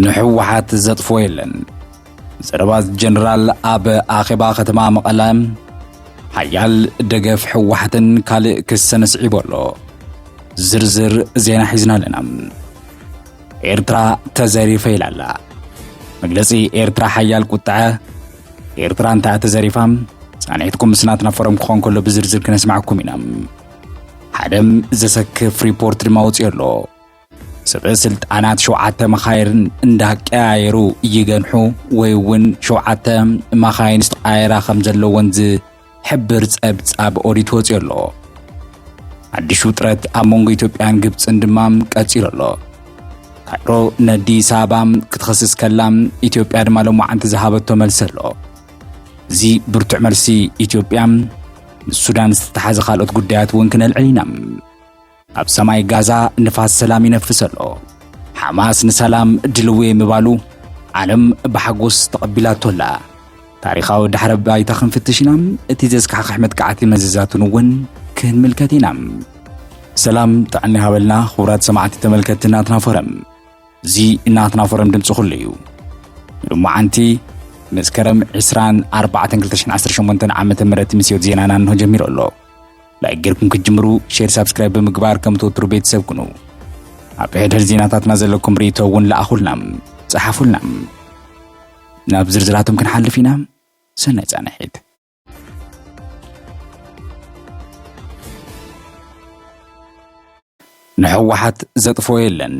ንሕወሓት ዘጥፎ የለን ዘረባ ጀነራል ኣብ ኣኼባ ከተማ መቐለ ሓያል ደገፍ ሕወሓትን ካልእ ክሰን ስዒቡ ኣሎ ዝርዝር ዜና ሒዝና ኣለና ኤርትራ ተዘሪፈ ኢላ ኣላ። መግለጺ ኤርትራ ሓያል ቁጥዐ ኤርትራ እንተኣ ተዘሪፋ ጻንሒትኩም ምስ ናትና ፎረም ክኾን ከሎ ብዝርዝር ክነስማዕኩም ኢና ሓደም ዘሰክፍ ሪፖርት ድማ ወፅዮ ኣሎ ሰበ ስልጣናት ሸውዓተ መኻይርን እንዳቀያየሩ ይገንሑ ወይ እውን ሸውዓተ መኻይን ዝተቃየራ ከም ዘለወን ሕብር ጸብጻብ ኦዲት ወጺኡ ኣሎ። ሓድሽ ውጥረት ኣብ መንጎ ኢትዮጵያን ግብፅን ድማ ቀፂሉ ኣሎ። ካይሮ ንኣዲስ ኣበባ ክትኸስስ ከላ ኢትዮጵያ ድማ ሎማዓንቲ ዝሃበቶ መልሲ ኣሎ። እዚ ብርቱዕ መልሲ ኢትዮጵያ ምስ ሱዳን ዝተተሓዘ ካልኦት ጉዳያት እውን ክነልዕል ኢና። ኣብ ሰማይ ጋዛ ንፋስ ሰላም ይነፍስ ኣሎ። ሓማስ ንሰላም ድልውየ ምባሉ ዓለም ብሓጎስ ተቐቢላቶ ኣላ። ታሪኻዊ ዳሕረ ባይታ ክንፍትሽ ኢና። እቲ ዘስካሕክሕ መጥቃዕቲ መዘዛቱን እውን ክንምልከት ኢና። ሰላም ጥዕና ሃበልና ክቡራት ሰማዕቲ ተመልከትቲ ናትና ፎረም። እዚ ናትና ፎረም ድምፂ ኩሉ እዩ። ሎማዓንቲ መስከረም 24 2018 ዓ ም ምስዮት ዜናና እንሆ ጀሚሩ ኣሎ። ላይክ ጌርኩም ክትጅምሩ ሼር ሳብስክራይብ ብምግባር ከም ትወትሩ ቤተሰብ ኩኑ። ኣብ ሕድሕድ ዜናታትና ዘለኩም ርእቶ እውን ለኣኹልና ጸሓፉልና። ናብ ዝርዝራቶም ክንሓልፍ ኢና። ሰናይ ጻንሒት። ንሕወሓት ዘጥፎ የለን።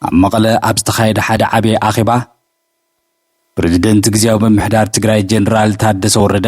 ኣብ መቐለ ኣብ ዝተኻየደ ሓደ ዓብዪ ኣኼባ ፕሬዚደንት ግዜያዊ ምምሕዳር ትግራይ ጀኔራል ታደሰ ወረደ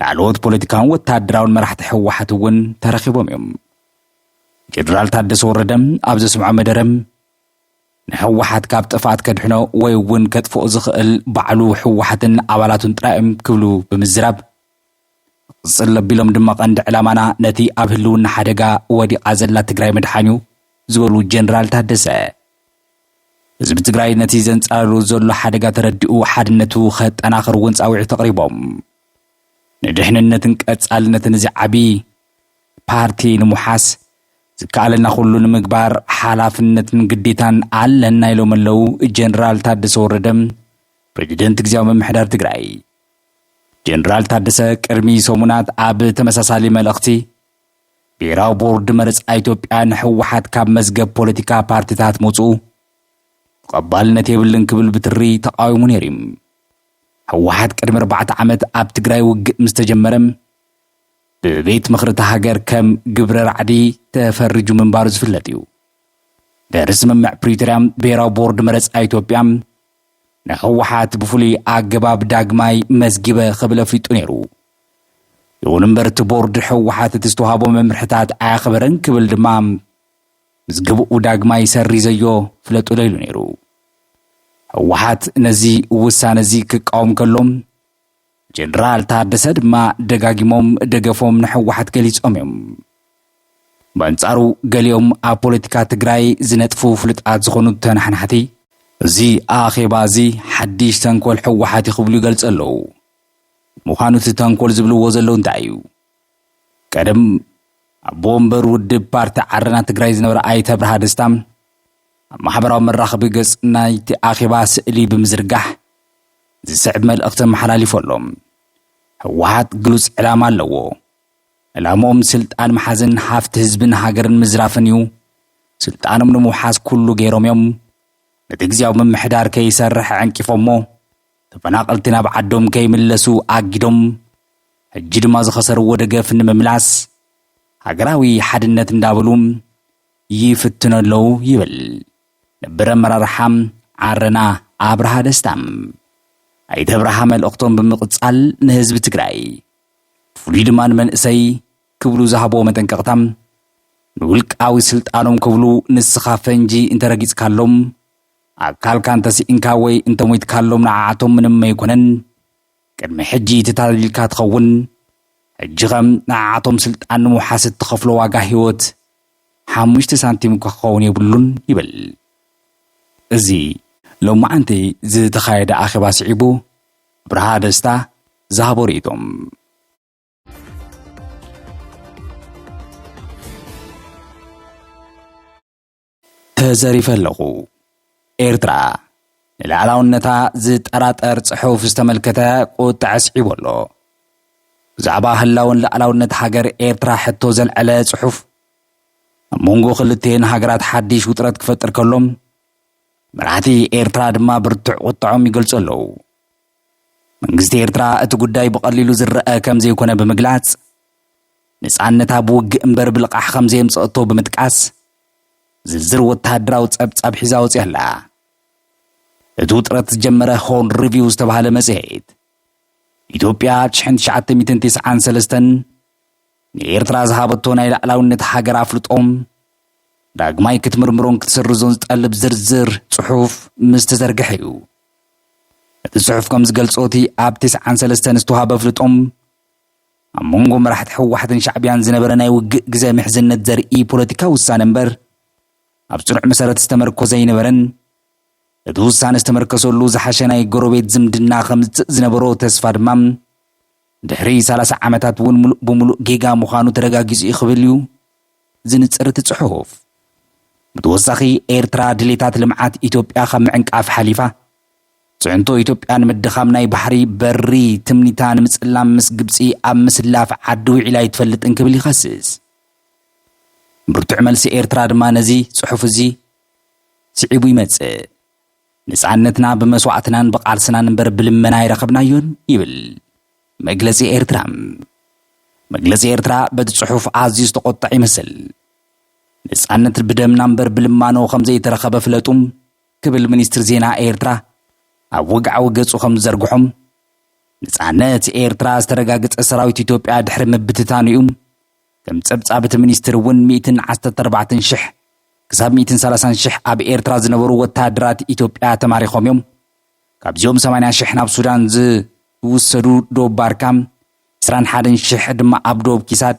ላዕለዎት ፖለቲካውን ወተሃደራውን መራሕቲ ህወሓት እውን ተረኺቦም እዮም። ጀነራል ታደሰ ወረደ ኣብ ዘስምዖ መደረ ንህወሓት ካብ ጥፍኣት ከድሕኖ ወይ እውን ከጥፍኦ ዝኽእል ባዕሉ ህወሓትን ኣባላቱን ጥራይ እዮም ክብሉ ብምዝራብ ክቕፅል ኣቢሎም ድማ ቀንዲ ዕላማና ነቲ ኣብ ህልውና ሓደጋ ወዲቓ ዘላ ትግራይ ምድሓን እዩ ዝበሉ ጀነራል ታደሰ ህዝቢ ትግራይ ነቲ ዘንጻርሩ ዘሎ ሓደጋ ተረዲኡ ሓድነቱ ከጠናኽር እውን ጻውዒት ኣቕሪቦም። ንድሕንነትን ቀጻልነትን እዚ ዓቢ ፓርቲ ንምውሓስ ዝከኣለና ኩሉ ንምግባር ሓላፍነትን ግዴታን ኣለና ኢሎም ኣለው ጀነራል ታደሰ ወረደ ፕሬዚደንት ግዜያዊ ምምሕዳር ትግራይ። ጀነራል ታደሰ ቅድሚ ሰሙናት ኣብ ተመሳሳሊ መልእኽቲ ብሄራዊ ቦርድ መረፃ ኢትዮጵያ ንህወሓት ካብ መዝገብ ፖለቲካ ፓርቲታት ምውፅኡ ተቐባልነት የብልን ክብል ብትሪ ተቓዊሙ ነይሩ እዩ። ህወሓት ቅድሚ ኣርባዕተ ዓመት ኣብ ትግራይ ውግእ ምስ ተጀመረ ብቤት ምኽሪ እታ ሃገር ከም ግብረ ራዕዲ ተፈሪጁ ምንባሩ ዝፍለጥ እዩ። ድሕሪ ስምምዕ ፕሪቶርያ ብሄራዊ ቦርድ መረፃ ኢትዮጵያ ንህወሓት ብፍሉይ ኣገባብ ዳግማይ መዝጊበ ክብል ኣፍሊጡ ነይሩ። ይኹን እምበር እቲ ቦርድ ህወሓት እቲ ዝተዋህቦ መምርሕታት ኣየኽበረን ክብል ድማ ምዝግብኡ ዳግማይ ሰሪዘዮ ፍለጡዶ ኢሉ ነይሩ። ህወሓት ነዚ ውሳነ እዚ ክቃወም ከሎ ጀነራል ታደሰ ድማ ደጋጊሞም ደገፎም ንሕወሓት ገሊፆም እዮም። በንጻሩ ገሊኦም ኣብ ፖለቲካ ትግራይ ዝነጥፉ ፍሉጣት ዝኾኑ ተናሓናሕቲ እዚ ኣኼባ እዚ ሓዲሽ ተንኮል ሕወሓት እዩ ክብሉ ይገልፁ ኣለዉ። ምዃኑ እቲ ተንኮል ዝብልዎ ዘለዉ እንታይ እዩ? ቀደም ኣቦ ወንበር ውድብ ፓርቲ ዓረና ትግራይ ዝነበረ ኣይተ ብርሃ ደስታ ኣብ ማሕበራዊ መራኸቢ ገጽ ናይቲ ኣኼባ ስእሊ ብምዝርጋሕ ዝስዕብ መልእኽቲ ኣመሓላሊፉ ኣሎ። ህወሓት ግሉጽ ዕላማ ኣለዎ። ዕላምኦም ስልጣን ምሓዝን ሃፍቲ ህዝብን ሃገርን ምዝራፍን እዩ። ስልጣኖም ንምውሓስ ኩሉ ገይሮም እዮም። ነቲ ግዜያዊ ምምሕዳር ከይሰርሕ ዕንቂፎሞ ተፈናቐልቲ ናብ ዓዶም ከይምለሱ ኣጊዶም፣ ሕጂ ድማ ዝኸሰርዎ ደገፍ ንምምላስ ሃገራዊ ሓድነት እንዳበሉ ይፍትኑ ኣለዉ ይብል ነበር ኣመራርሓ ዓረና ኣብርሃ ደስታ። ኣይተ ኣብርሃ መልእኽቶም ብምቕጻል ንህዝቢ ትግራይ ብፍሉይ ድማ ንመንእሰይ ክብሉ ዝሃብዎ መጠንቀቕታ ንውልቃዊ ስልጣኖም ክብሉ ንስኻ ፈንጂ እንተረጊጽካሎም ኣካልካ እንተስኢንካ ወይ እንተሞይትካሎም ንዓዓቶም ምንም ኣይኮነን። ቅድሚ ሕጂ ተታሊልካ ትኸውን። ሕጂኸ ንዓዓቶም ስልጣን ንምውሓስ እትኸፍሎ ዋጋ ህይወት ሓሙሽተ ሳንቲም እኳ ክኸውን የብሉን ይብል እዚ ሎማዕንቲ ዝተኻየደ ኣኼባ ስዒቡ ኣብርሃ ደስታ ዝሃቦ ርእይቶ። ተዘሪፈ ኣለኹ። ኤርትራ፣ ንልኣላውነታ ዝጠራጠር ጽሑፍ ዝተመልከተ ቁጥዐ ኣስዒቡ ኣሎ። ብዛዕባ ህላወን ልኣላውነት ሃገር ኤርትራ ሕቶ ዘልዐለ ጽሑፍ፣ ኣብ መንጎ ክልቴን ሃገራት ሓዲሽ ውጥረት ክፈጥር ከሎ፣ መራሕቲ ኤርትራ ድማ ብርቱዕ ቁጥዖም ይገልጹ ኣለዉ። መንግስቲ ኤርትራ እቲ ጉዳይ ብቐሊሉ ዝረኣ ከም ዘይኮነ ብምግላጽ፣ ነጻነታ ብውግእ እምበር ብልቓሕ ከም ዘየምጸእቶ ብምጥቃስ፣ ዝርዝር ወተሃደራዊ ጸብጻብ ሒዛ ወጺኣ ኣላ። እቲ ውጥረት ዝጀመረ ሆርን ሪቪው ዝተባህለ መጽሔት፣ ኢትዮጵያ ኣብ ሽሕን ትሽዓተ ሚእትን ቴስዓን ሰለስተን ንኤርትራ ዝሃበቶ ናይ ላዕላውነት ሃገር ኣፍልጦም ዳግማይ ክትምርምሮን ክትስርዞን ዝጠልብ ዝርዝር ጽሑፍ ምስ ተዘርግሐ እዩ። እቲ ጽሑፍ ከም ዝገልጾ እቲ ኣብ ቴስዓን ሰለስተን ዝተዋህበ ኣፍልጦም ኣብ መንጎ መራሕቲ ህወሓትን ሻዕቢያን ዝነበረ ናይ ውግእ ግዘ ምሕዝነት ዘርኢ ፖለቲካዊ ውሳነ እምበር ኣብ ፅኑዕ መሰረት ዝተመርኮዘ ኣይነበረን። እቲ ውሳነ ዝተመርከሰሉ ዝሓሸ ናይ ጎረቤት ዝምድና ከምፅእ ዝነበሮ ተስፋ ድማ ድሕሪ ሰላሳ ዓመታት እውን ሙሉእ ብሙሉእ ጌጋ ምዃኑ ተረጋጊጹ እዩ ክብል እዩ ዝንጽር እቲ ጽሑፍ። ብተወሳኺ ኤርትራ ድሌታት ልምዓት ኢትዮጵያ ካብ ምዕንቃፍ ሓሊፋ ፅዕንቶ ኢትዮጵያ ንምድኻም ናይ ባሕሪ በሪ ትምኒታ ንምፅላም ምስ ግብፂ ኣብ ምስላፍ ዓዲ ውዒላ ኣይትፈልጥን ክብል ይኸስስ። ብርቱዕ መልሲ ኤርትራ ድማ ነዚ ፅሑፍ እዚ ስዒቡ ይመፅእ። ንፃነትና ብመስዋእትናን ብቓልስናን እምበር ብልመና ኣይረኸብናዮን ይብል መግለፂ ኤርትራ። መግለፂ ኤርትራ በቲ ፅሑፍ ኣዝዩ ዝተቖጠዐ ይመስል። ነፃነት ብደምና እምበር ብልማኖ ከምዘይተረኸበ ፍለጡ ክብል ሚኒስትሪ ዜና ኤርትራ ኣብ ወግዓዊ ገጹ ከም ዝዘርግሖ፣ ነጻነት ኤርትራ ዝተረጋገጸ ሰራዊት ኢትዮጵያ ድሕሪ ምብትታኑ እዩ። ከም ጸብጻብ እቲ ሚኒስትሪ እውን ሚእትን ዓሰርተ ኣርባዕተን ሽሕ ክሳብ ሚእትን ሰላሳን ሽሕ ኣብ ኤርትራ ዝነበሩ ወተሃደራት ኢትዮጵያ ተማሪኾም እዮም። ካብዚኦም ሰማንያ ሽሕ ናብ ሱዳን ዝውሰዱ ዶብ ባርካ፣ ዕስራን ሓደን ሽሕ ድማ ኣብ ዶብ ኪሳድ፣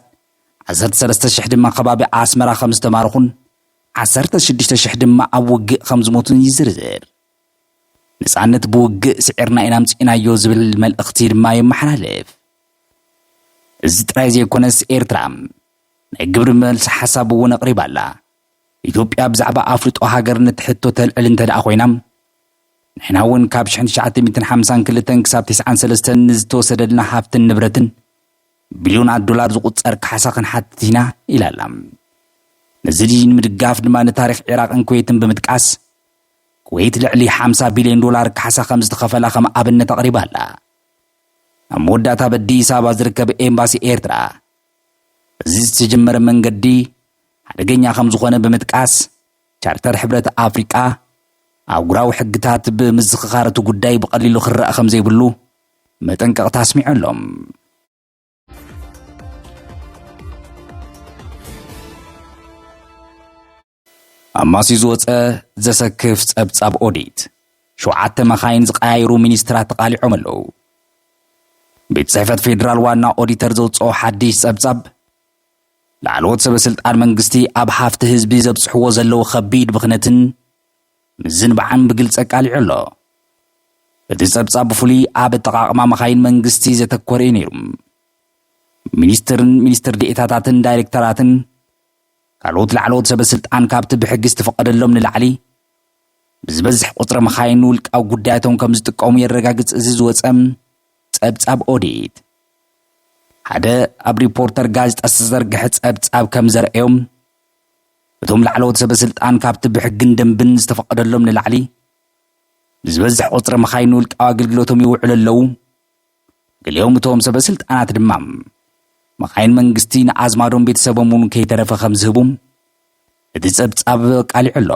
ዓሰርተ ሰለስተ ሽሕ ድማ ከባቢ ኣስመራ ከም ዝተማርኹን ዓሰርተ ሽዱሽተ ሽሕ ድማ ኣብ ውግእ ከም ዝሞቱን ይዝርዝር። ነጻነት ብውግእ ስዒርና ኢና ኣምጺእናዮ ዝብል መልእኽቲ ድማ የመሓላልፍ። እዚ ጥራይ ዘይኮነስ ኤርትራ ናይ ግብሪ መልሲ ሓሳብ እውን ኣቕሪባ ኣላ። ኢትዮጵያ ብዛዕባ ኣፍልጦ ሃገርነት ሕቶ ተልዕል እንተ ደኣ ኮይና ንሕና እውን ካብ ሽሕን ትሽዓተ ሚእትን ሓምሳን ክልተን ክሳብ ቴስዓን ሰለስተን ንዝተወሰደልና ሃፍትን ንብረትን ብቢልዮናት ዶላር ዝቑጸር ካሕሳ ክንሓትት ኢና ኢላ ኣላ። ነዚ ንምድጋፍ ድማ ንታሪኽ ዒራቕን ኩዌትን ብምጥቃስ፣ ኩዌት ልዕሊ ሓምሳ ቢልዮን ዶላር ካሕሳ ከም ዝተኸፈላ ከም ኣብነት ኣቕሪባ ኣላ። ኣብ መወዳእታ ኣብ ኣዲስ ኣበባ ዝርከብ ኤምባሲ ኤርትራ፣ እዚ ዝተጀመረ መንገዲ ሓደገኛ ከም ዝኾነ ብምጥቃስ፣ ቻርተር ሕብረት ኣፍሪቃ፣ ኣህጉራዊ ሕግታት ብምዝኽኻር እቲ ጉዳይ ብቐሊሉ ክረኣ ከም ዘይብሉ፣ መጠንቀቕታ ኣስሚዑ ኣሎ። ኣብ ማስዩ ዝወፀ ዘሰክፍ ፀብፃብ ኦዲት፣ ሸውዓተ መኻይን ዝቀያየሩ ሚኒስትራት ተቓሊዖም ኣለዉ። ቤት ጽሕፈት ፌዴራል ዋና ኦዲተር ዘውፅኦ ሓድሽ ጸብጻብ ላዕለዎት ሰበስልጣን መንግስቲ ኣብ ሃፍቲ ህዝቢ ዘብጽሕዎ ዘለዉ ከቢድ ብኽነትን ምዝንባዕን ብግልፂ ኣቃሊዑ ኣሎ። እቲ ፀብፃብ ብፍሉይ ኣብ ኣጠቓቕማ መኻይን መንግስቲ ዘተኮረ እዩ ነይሩ። ሚኒስትርን ሚኒስትር ዴኤታታትን ዳይሬክተራትን ካልኦት ላዕለዎት ሰበስልጣን ካብቲ ብሕጊ ዝተፈቐደሎም ንላዕሊ ብዝበዝሕ ቁፅሪ መኻይን ንውልቃዊ ጉዳያቶም ከም ዝጥቀሙ የረጋግፅ እዚ ዝወፀ ፀብፃብ ኦዲት። ሓደ ኣብ ሪፖርተር ጋዜጣ ዝተዘርግሐ ፀብፃብ ከም ዘርእዮም እቶም ላዕለዎት ሰበስልጣን ካብቲ ብሕግን ደንብን ዝተፈቐደሎም ንላዕሊ ንዝበዝሕ ቁፅሪ መኻይን ንውልቃዊ ኣገልግሎቶም ይውዕሉ ኣለዉ። ገሊኦም እቶም ሰበስልጣናት ድማ መኻይን መንግስቲ ንኣዝማዶም ቤተሰቦም እውን ከይተረፈ ከም ዝህቡ እቲ ጸብጻብ ኣቃሊዑ ኣሎ።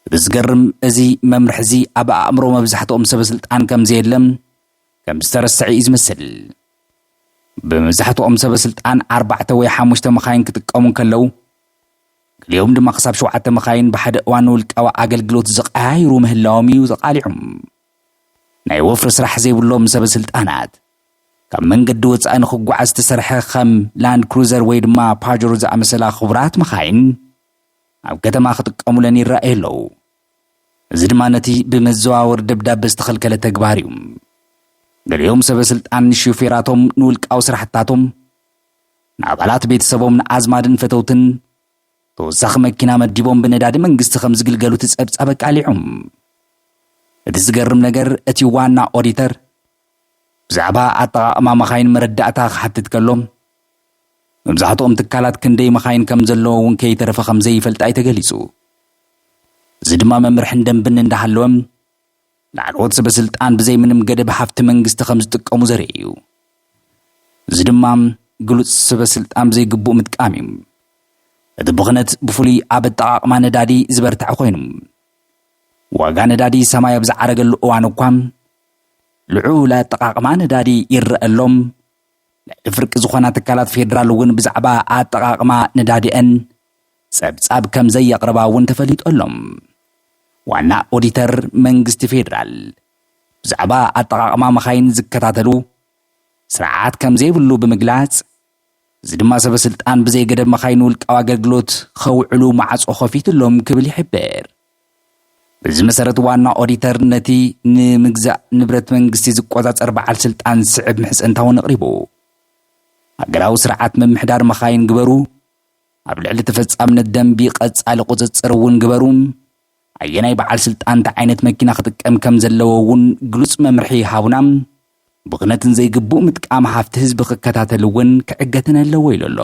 እቲ ዝገርም እዚ መምርሒ እዚ ኣብ ኣእምሮ መብዛሕትኦም ሰበስልጣን ከም ዘየለ ከም ዝተረስዐ እዩ ዝመስል። ብመብዛሕትኦም ሰበ ስልጣን ኣርባዕተ ወይ ሓሙሽተ መኻይን ክጥቀሙ እንከለዉ፣ ገሊኦም ድማ ክሳብ ሸውዓተ መኻይን ብሓደ እዋን ንውልቃዊ ኣገልግሎት ዝቐያይሩ ምህላዎም እዩ ተቓሊዑ። ናይ ወፍሪ ስራሕ ዘይብሎም ሰበ ስልጣናት ካብ መንገዲ ወጻኢ ንኽጓዓዝ ዝተሰርሐ ከም ላንድ ክሩዘር ወይ ድማ ፓጀሮ ዝኣመሰላ ክቡራት መኻይን ኣብ ከተማ ክጥቀሙለን ይረኣዩ ኣለዉ። እዚ ድማ ነቲ ብመዘዋወሪ ደብዳበ ዝተኸልከለ ተግባር እዩ። ገሊኦም ሰበ ስልጣን ንሹፌራቶም፣ ንውልቃዊ ስራሕትታቶም፣ ንኣባላት ቤተሰቦም፣ ንኣዝማድን ፈተውትን ተወሳኺ መኪና መዲቦም ብነዳዲ መንግስቲ ከም ዝግልገሉ እቲ ጸብጻብ ኣቃሊዑ። እቲ ዝገርም ነገር እቲ ዋና ኦዲተር ብዛዕባ ኣጠቓቕማ መኻይን መረዳእታ ክሓትት ከሎ መብዛሕትኦም ትካላት ክንደይ መኻይን ከም ዘለዎ እውን ከይተረፈ ከም ዘይፈልጣ እዩ ተገሊፁ። እዚ ድማ መምርሕን ደንብን እንዳሃለወ ላዕለዎት ሰበስልጣን ብዘይ ምንም ገደብ ሃፍቲ መንግስቲ ከም ዝጥቀሙ ዘርኢ እዩ። እዚ ድማ ግሉፅ ሰበስልጣን ብዘይግቡእ ምጥቃም እዩ። እቲ ብኽነት ብፍሉይ ኣብ ኣጠቓቕማ ነዳዲ ዝበርተዐ ኮይኑ ዋጋ ነዳዲ ሰማይ ኣብ ዝዓረገሉ እዋን እኳ ልዑል ኣጠቓቕማ ነዳዲ ይረኣ ኣሎ፣ ልዕሊ ፍርቂ ዝኾና ትካላት ፌዴራል እውን ብዛዕባ ኣጠቓቕማ ነዳዲኤን ፀብፃብ ከምዘየቕርባ እውን ተፈሊጡ ኣሎ። ዋና ኦዲተር መንግስቲ ፌዴራል ብዛዕባ ኣጠቓቕማ መኻይን ዝከታተሉ ስርዓት ከምዘይብሉ ብምግላፅ እዚ ድማ ሰበስልጣን ብዘይገደብ መኻይን ውልቃዊ ኣገልግሎት ኸውዕሉ ማዕፆ ኸፊቱሎም ክብል ይሕብር። በዚ መሰረት ዋና ኦዲተር ነቲ ንምግዛእ ንብረት መንግስቲ ዝቆፃፀር በዓል ስልጣን ዝስዕብ ምሕፅንታ እውን ኣቕሪቡ። ሃገራዊ ስርዓት ምምሕዳር መኻይን ግበሩ፣ ኣብ ልዕሊ ተፈፃምነት ደንቢ ቐፃሊ ቑፅፅር እውን ግበሩ፣ ኣየናይ በዓል ስልጣን እንታይ ዓይነት መኪና ክጥቀም ከም ዘለዎ እውን ግሉፅ መምርሒ ይሃቡና፣ ብኽነትን ዘይግቡእ ምጥቃም ሃፍቲ ህዝቢ ክከታተል እውን ክዕገትን ኣለዎ ኢሉ ኣሎ።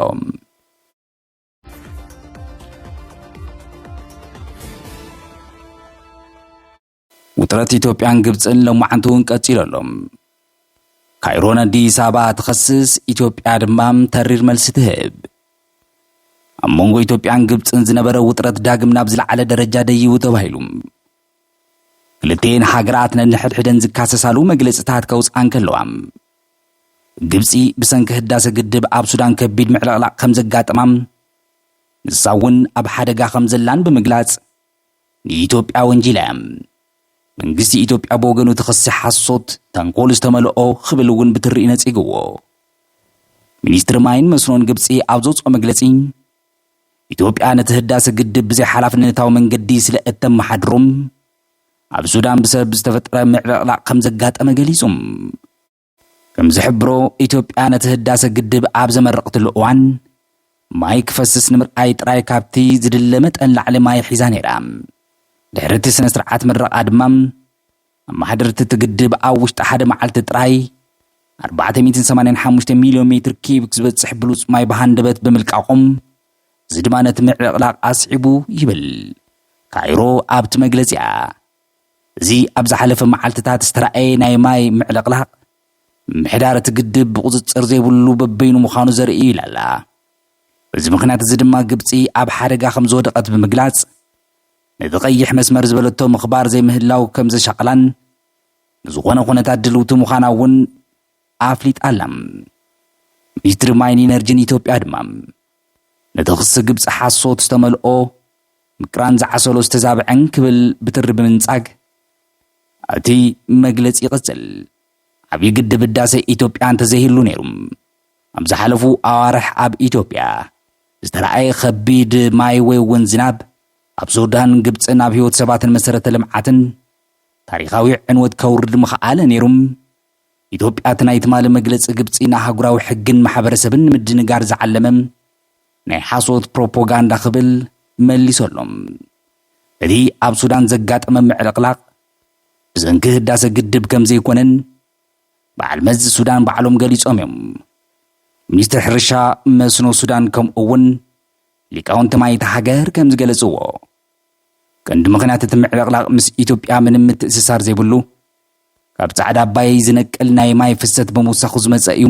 ውጥረት ኢትዮጵያን ግብፅን ሎማዓንቲ እውን ቀፂሉ ኣሎ ካይሮ ንኣዲስ ኣበባ ትኸስስ ኢትዮጵያ ድማ ተሪር መልሲ ትህብ ኣብ መንጎ ኢትዮጵያን ግብፅን ዝነበረ ውጥረት ዳግም ናብ ዝለዓለ ደረጃ ደይቡ ተባሂሉ ክልቴን ሃገራት ነንሕድሕደን ዝካሰሳሉ መግለፅታት ከውፅኣን ከለዋ ግብጺ ብሰንኪ ህዳሰ ግድብ ኣብ ሱዳን ከቢድ ምዕልቕላቕ ከምዘጋጠማ ንሳ እውን ኣብ ሓደጋ ከምዘላን ብምግላጽ ንኢትዮጵያ ወንጂላ እያ። መንግስቲ ኢትዮጵያ ብወገኑ እቲ ክሲ ሓሶት፣ ተንኮል ዝተመልኦ ክብል እውን ብትሪ ነጺግዎ። ሚኒስትሪ ማይን መስኖን ግብጺ ኣብ ዘውጽኦ መግለጺ ኢትዮጵያ ነቲ ህዳሰ ግድብ ብዘይሓላፍነታዊ መንገዲ ስለእተመሓድሮ ኣብ ሱዳን ብሰብ ዝተፈጠረ ምዕብዕላቕ ከም ዘጋጠመ ገሊጹ። ከም ዝሕብሮ፣ ኢትዮጵያ ነቲ ህዳሰ ግድብ ኣብ ዘመረቕትሉ እዋን፣ ማይ ክፈስስ ንምርኣይ ጥራይ ካብቲ ዝድለ መጠን ላዕሊ ማይ ሒዛ ነይራ። ድሕሪ እቲ ስነ-ስርዓት ምረቓ ድማ፣ ኣመሓደርቲ እቲ ግድብ ኣብ ውሽጢ ሓደ መዓልቲ ጥራይ ኣርባዕተ ሚእትን ሰማንያን ሓሙሽተ ሚልዮን ሜትር ኪዩቢክ ዝበጽሕ ብሉጽ ማይ ብሃንደበት ብምልቃቖም፣ እዚ ድማ ነቲ ምዕልቕላቕ ኣስዒቡ ይብል ካይሮ ኣብቲ መግለጺኣ። እዚ ኣብ ዝሓለፈ መዓልትታት ዝተራእየ ናይ ማይ ምዕልቕላቕ፣ ምምሕዳር እቲ ግድብ ብቑጽጽር ዘይብሉ በበይኑ ምዃኑ ዘርኢ እዩ ኢላ'ላ። በዚ ምኽንያት እዚ ድማ ግብጺ ኣብ ሓደጋ ከም ዝወደቐት ብምግላጽ፣ ነቲ ቀይሕ መስመር ዝበለቶ ምኽባር ዘይምህላው ከም ዘሻቕላን ንዝኾነ ኩነታት ድልውቲ ምዃና'ውን ኣፍሊጣ ኣላ። ሚኒስትሪ ማይን ኢነርጂን ኢትዮጵያ ድማ ነቲ ክሲ ግብጺ ሓሶት ዝተመልኦ ምቅራን ዝዓሰሎ ዝተዛብዐን ክብል ብትሪ ብምንጻግ እቲ መግለጺ ይቕጽል። ዓብዪ ግድብ ህዳሰ ኢትዮጵያ እንተዘይህሉ ነይሩ ኣብ ዝሓለፉ ኣዋርሕ ኣብ ኢትዮጵያ ዝተራእየ ከቢድ ማይ ወይ እውን ዝናብ ኣብ ሱዳን ግብፅን ኣብ ህይወት ሰባትን መሰረተ ልምዓትን ታሪኻዊ ዕንወት ከውርድ ምኸኣለ ነይሩ። ኢትዮጵያ እቲ ናይ ትማሊ መግለጺ ግብጺ ንኣህጉራዊ ሕግን ማሕበረሰብን ንምድንጋር ዝዓለመ ናይ ሓሶት ፕሮፖጋንዳ ክብል መሊሱ ኣሎ። እቲ ኣብ ሱዳን ዘጋጠመ ምዕልቕላቕ ብሰንኪ ህዳሰ ግድብ ከምዘይኮነን በዓል መዚ ሱዳን ባዕሎም ገሊጾም እዮም። ሚኒስትሪ ሕርሻ መስኖ ሱዳን ከምኡ እውን ሊቃውንቲ ማይ እታ ሃገር ከምዝገለጽዎ ቀንዲ ምኽንያት እቲ ምዕልቕላቕ ምስ ኢትዮጵያ ምንም ምትእስሳር ዘይብሉ ካብ ጻዕዳ ኣባየይ ዝነቅል ናይ ማይ ፍሰት ብምውሳኹ ዝመጸ እዩ።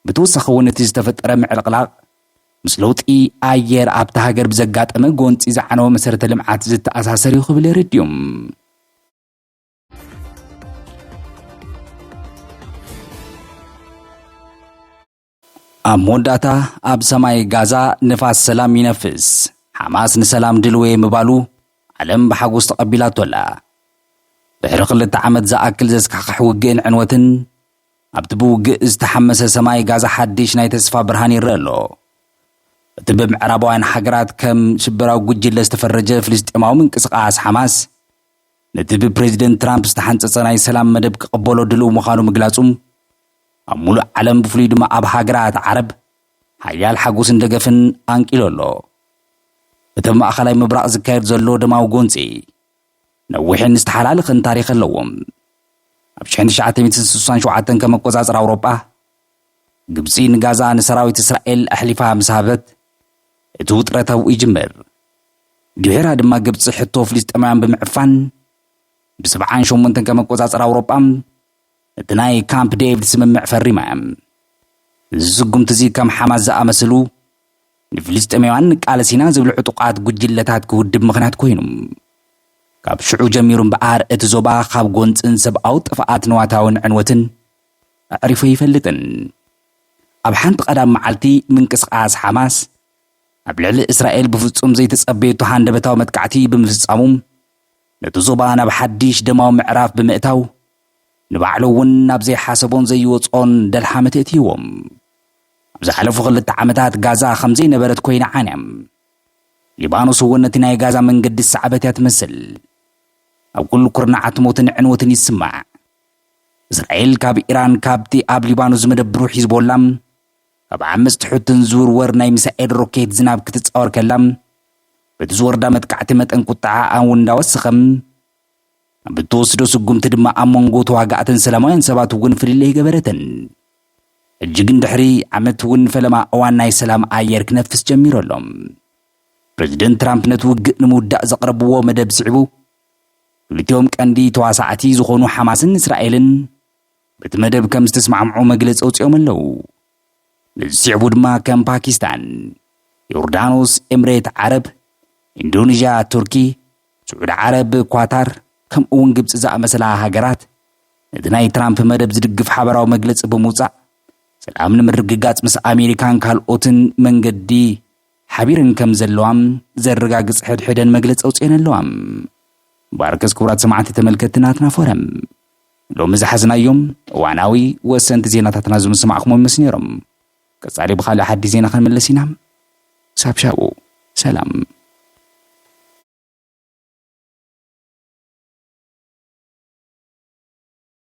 ብተወሳኺ እውን እቲ ዝተፈጠረ ምዕልቕላቕ ምስ ለውጢ ኣየር ኣብታ ሃገር ብዘጋጠመ ጎንፂ ዝዓነወ መሰረተ ልምዓት ዝተኣሳሰር እዩ ክብል የረድኡ። ኣብ መወዳእታ ኣብ ሰማይ ጋዛ ንፋስ ሰላም ይነፍስ፣ ሓማስ ንሰላም ድልው'የ ምባሉ ዓለም ብሓጎስ ተቐቢላቶ ኣላ። ድሕሪ ክልተ ዓመት ዝኣክል ዘስካሕኽሕ ውግእን ዕንወትን፣ ኣብቲ ብውግእ ዝተሓመሰ ሰማይ ጋዛ ሓድሽ ናይ ተስፋ ብርሃን ይረኣ ኣሎ። እቲ ብምዕራባውያን ሃገራት ከም ሽበራዊ ጉጅለ ዝተፈረጀ ፍልስጤማዊ ምንቅስቓስ ሓማስ፣ ነቲ ብፕረዚደንት ትራምፕ ዝተሓንጸጸ ናይ ሰላም መደብ ክቕበሎ ድሉው ምዃኑ ምግላጹ፣ ኣብ ሙሉእ ዓለም ብፍሉይ ድማ ኣብ ሃገራት ዓረብ ሓያል ሓጎስን ደገፍን ኣንቂሉ ኣሎ። እቲ ኣብ ማእኸላይ ምብራቕ ዝካየድ ዘሎ ደማዊ ጎንፂ ነዊሕን ዝተሓላለኸን ታሪኽ ኣለዎ። ኣብ ሽሕን ትሽዓተ ሚእትን ስሳን ሸውዓተን ከም ኣቆፃፅራ ኣውሮጳ ግብፂ ንጋዛ ንሰራዊት እስራኤል ኣሕሊፋ ምስ ሃበት እቲ ውጥረት ኣብኡ ይጅምር። ድሒራ ድማ ግብፂ ሕቶ ፍልስጤማውያን ብምዕፋን ብሰብዓን ሸሞንተን ከም ኣቆፃፅራ ኣውሮጳ እቲ ናይ ካምፕ ዴቪድ ስምምዕ ፈሪማ እያ። እዚ ስጉምቲ እዚ ከም ሓማስ ዝኣመስሉ ንፍልስጤማውያን ንቃለስ ኢና ዝብሉ ዕጡቓት ጉጅለታት ክውድብ ምኽንያት ኮይኑ። ካብ ሽዑ ጀሚሩ እምበኣር እቲ ዞባ ካብ ጎንጽን ሰብኣዊ ጥፍኣት ንዋታውን ዕንወትን ኣዕሪፉ ኣይፈልጥን። ኣብ ሓንቲ ቀዳም መዓልቲ ምንቅስቓስ ሓማስ ኣብ ልዕሊ እስራኤል ብፍጹም ዘይተጸበየቶ ሃንደበታዊ መጥቃዕቲ ብምፍጻሙ፣ ነቲ ዞባ ናብ ሓድሽ ደማዊ ምዕራፍ ብምእታው፣ ንባዕሉ እውን ናብ ዘይሓሰቦን ዘይወጽኦን ደልሃመት የእትይዎ። ኣብ ዝሓለፉ ክልተ ዓመታት ጋዛ ከም ዘይነበረት ኰይና ዓንያ። ሊባኖስ እውን ነቲ ናይ ጋዛ መንገዲ ዝሰዓበት እያ ትመስል። ኣብ ኵሉ ኵርናዓት ሞትን ዕንወትን ይስማዕ። እስራኤል ካብ ኢራን ካብቲ ኣብ ሊባኖስ ዝመደብሩ ሒዝቦላ፣ ኣብ ዓመጽቲ ሑትን ዝውርወር ናይ ሚሳኤል ሮኬት ዝናብ ክትጻወር ከላ፣ በቲ ዝወርዳ መጥቃዕቲ መጠን ቁጠዓኣ እውን እንዳወሰኸ፣ ኣብ እትወስዶ ስጉምቲ ድማ ኣብ መንጎ ተዋጋእትን ሰላማውያን ሰባት እውን ፍልልይ ገበረትን። ሕጂ ግን ድሕሪ ዓመት እውን ፈለማ እዋን ናይ ሰላም ኣየር ክነፍስ ጀሚሩ ኣሎ። ፕረዚደንት ትራምፕ ነቲ ውግእ ንምውዳእ ዘቕረብዎ መደብ ስዒቡ፣ ክልቲኦም ቀንዲ ተዋሳእቲ ዝኾኑ ሓማስን እስራኤልን፣ በቲ መደብ ከም ዝተስማዕምዑ መግለፂ ኣውፂኦም ኣለው። ነዚ ስዕቡ ድማ ከም ፓኪስታን፣ ዮርዳኖስ፣ ኤምሬት ዓረብ፣ ኢንዶኒዥያ፣ ቱርኪ፣ ስዑዲ ዓረብ፣ ኳታር ከምኡ እውን ግብፂ ዝኣመሰላ ሃገራት ነቲ ናይ ትራምፕ መደብ ዝድግፍ ሓበራዊ መግለፂ ብምውፃእ ሰላም ንምርግጋፅ ምስ ኣሜሪካን ካልኦትን መንገዲ ሓቢረን ከም ዘለዋም ዘረጋግፅ ሕድሕደን መግለፂ ኣውፅኤን ኣለዋ። ባርከስ ክቡራት ሰማዕቲ ተመልከትቲ ናትና ፎረም ሎሚ ዝሓዝናዮም እዋናዊ ወሰንቲ ዜናታትና ዝምስማዕክሞም ይመስ ነይሮም። ቀጻሊ ብኻልእ ሓዲስ ዜና ክንምለስ ኢና። ክሳብ ሻቡ ሰላም።